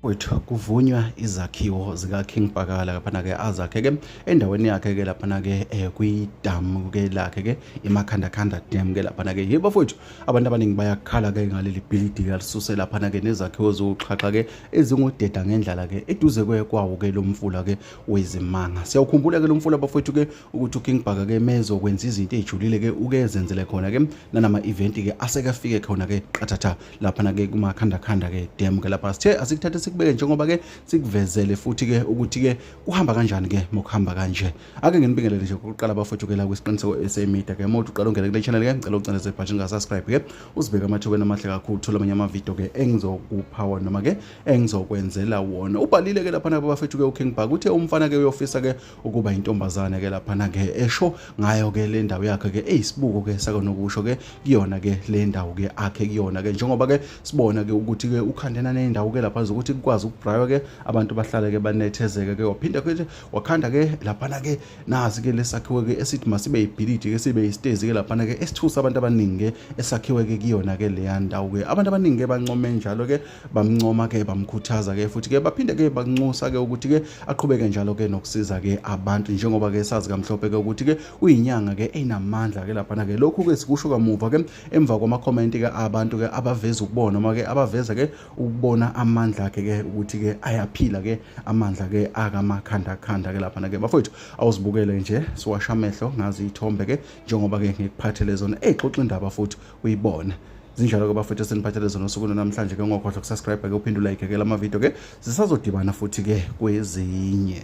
wethu kuvunywa izakhiwo zika-king pakala laphana-ke azakhe-ke endaweni yakhe-ke laphana-ke um eh, kwidamu-ke lakhe-ke imakhandakhanda dam-ke laphana-ke ye bafowethu abantu abaningi bayakhala-ke ngaleli bhilidi-ke alisuse laphana-ke nezakhiwo ziwuxhaxha-ke ezingudeda ngendlala-ke eduze kwawo-ke lo mfula-ke wezimanga siyawukhumbula-ke lo mfula bafowethu-ke ukuthi uking bhaka ke mezokwenza izinto ey'julile ke uke ezenzele khona ke nanama-eventi ke asekafike khona ke qathatha laphana ke kumakhandakhanda ke dem ke lapha sithe asikuthathe sikubeke njengoba ke sikuvezele futhi ke ukuthi ke kuhamba kanjani ke mokuhamba kanje ake nginibingelele nje kokuqala bafowethu ke la kwisiqiniseko sa media ke mothi uqala ungene kule channel ke ngicela ucindeze ibhathi lingasubscribe ke uzibeke amathubeni amahle kakhulu thola amanye amavidiyo ke engizokupha wona noma ke engizokwenzela wona ubhalile ke laphana babafethu ke uking bhaka uthe umfana ke uyofisa ke ukuba intombazane ke laphana ke esho ngayo ke le ndawo yakhe ke eyisibuko ke sakonokusho ke kuyona ke le ndawo ke akhe kuyona ke njengoba ke sibona ke ukuthi ke ukhandena nendawo ke lapha ukuthi kukwazi ukubraywa ke abantu bahlale ke banethezeke ke waphinde ke wakhanda ke laphana ke nazi ke lesakhiwe ke esithi masibe ibhilidi ke sibe istezi ke laphana ke esithusa abantu abaningi ke esakhiwe ke kuyona ke leya ndawo ke abantu abaningi ke bancome njalo ke bamncoma ke bamkhuthaza ke futhi ke baphinde ke banxusa ke ukuthi ke aqhubeke njalo ke nokusiza ke abantu njengoba ke sazi kamhlophe ke ukuthi ke uyinyanga ke enamandla ke lapha na ke lokhu ke sikusho kamuva ke emva kwama comment ke abantu ke abaveza ukubona uma ke abaveza ke ukubona amandla ke ke ukuthi ke ayaphila ke amandla ke akamakhanda khanda ke lapha na ke bafowethu awuzibukele nje siwasha amehlo ngazi ithombe ke njengoba ke ngikuphathele zona exoxa indaba futhi uyibona zinjalo ke bafethu eseniphathele zona usuku namhlanje ke ungakhohlwa kusubscribe ke uphinde ulayike ke lamavidiyo ke zisazodibana futhi ke kwezinye